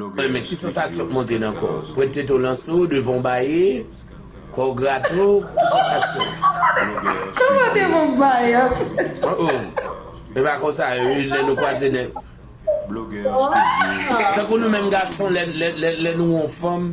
Mwen men ki sansasyon k monte nan kò w? Pwent tete w lanse w devan w baye, kò w grate w, ki sansasyon w? Kò m ap devan m baye. Oh oh E pa konsa ui lè nou kwaze nèg. Tankou nou menm gason lè nou wè yon fanm.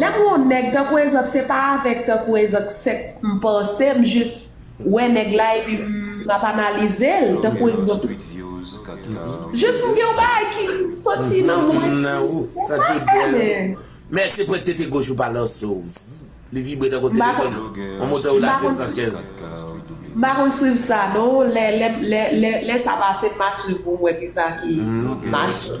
Lè m wè yon nèg tankou ezanp se pa avèk tankou ezank sèks m panse m jis wè nèg la epi m ap analize l tankou egzanp jis m gen yon bagay ki soti nan mwen ki Mèsi pou ektete goch ou pa lanse w li vibre tankou telefòn yon motè ou la 715. M pa konn swiv sa non lè sa pase m a swiv pou m wè kisa ki mache.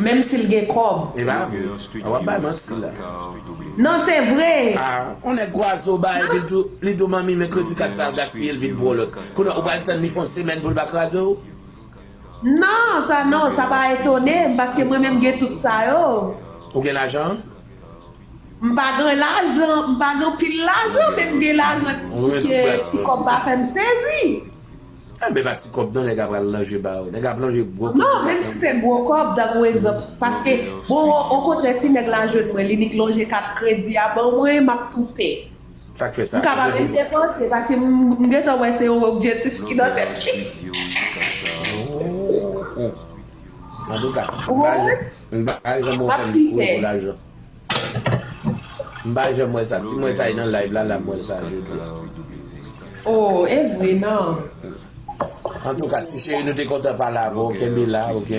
Menm sil gen kob. Epa vre a wap bay manti la. Non se vre. Ah on nèg gwazo ba epi l tou li tou manmi men kredi kat sa l gaspiye l vin pou on lòt kounye ou pral tann li fè on semèn pou l pa kraze w. Non sa non sa pa etone m paske mwen menm gen tout sa yo. Ou gen lajan? M pa gen lajan m pa gen anpil lajan men m gen lajan ki ke ti kòb pa fè m sezi. An men pa ti kòb non nèg a pral lanje ba yo. Nèg ap lanje gwo kòb tout ap lanje. Menm si se gwo kòb tankou egzanp paske bon okontrè si nèg la jwenn mwen li nik lonje kat kredi a ban mwen m ap tou pè. Sa k fè sa? M ka pa menm depanse paske m gentan wè se yon objektif ki nan tèt li. Antouka m pa janm wè w fè m kou pou lajan. M pa janm wè sa si m wè sa e nan live la la m wè sa jodi. Oh evre nan. Antouka ti cheri nou te kontan pale avè w kenbe la ok.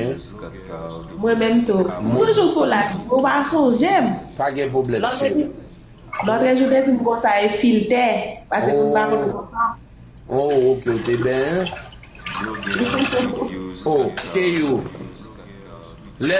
Mwen menm tou. M toujou sou live mwen ou pa sonje m. Pa gen pwoblèm cheri. Lotrejou te di m konsa e filtè pase pou m pa konn konsa. Oh ok ou te benyen. Oh keyou lè.